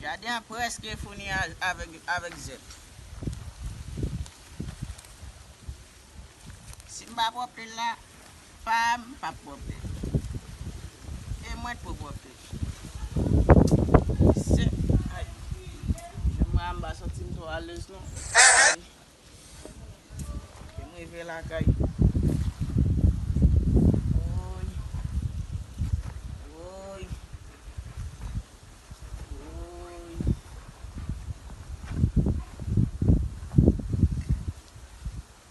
Jaden an preske fini avek zèb. Sim pa pwopte l la. Pam pap pwòpte e mwen t pou pwòpte se ay men mwen an m pa santim twò alez non ay kem rive lakay woy woy woy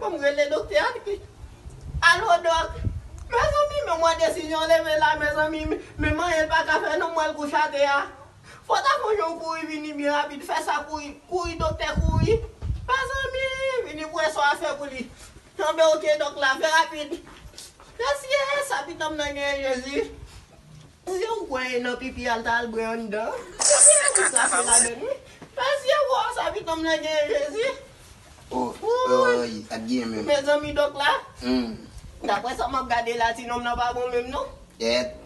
Fòm rele doktè a ui. Alo dòk Mezanmi men mwen desizyon leve la mezanmi men m anyen paka fè non mwen gouch atè a Fò ta fon jan w kouri vini byen rapid fè sa kouri kouri doktè kouri Mezanmi vini pou wè sa w ap fè pou li Tanbe ok dòk la fè rapid Mèsi ee sa pitan m nan genyen Jezi Mezanmi ou kwè e nan pipi a l ta al bwè anndan Mezanmi e ou krache ladann wi Mèsi ee woo sa pitan m nan genyen Jezi. Mezanmi dok la Daprè sa map gade la ti nonm nan pa bon menm non. Èt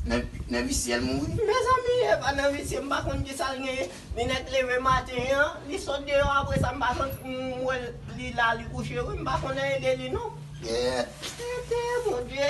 Nan visyel mouri. Mezanmi epa nan visye m pa konn kisal genyen li nèt leve maten an li sot deyò apresa m pa konn m wèl li la li kouche wi m pa konn anyen de li non. Èt. Tenten Bondye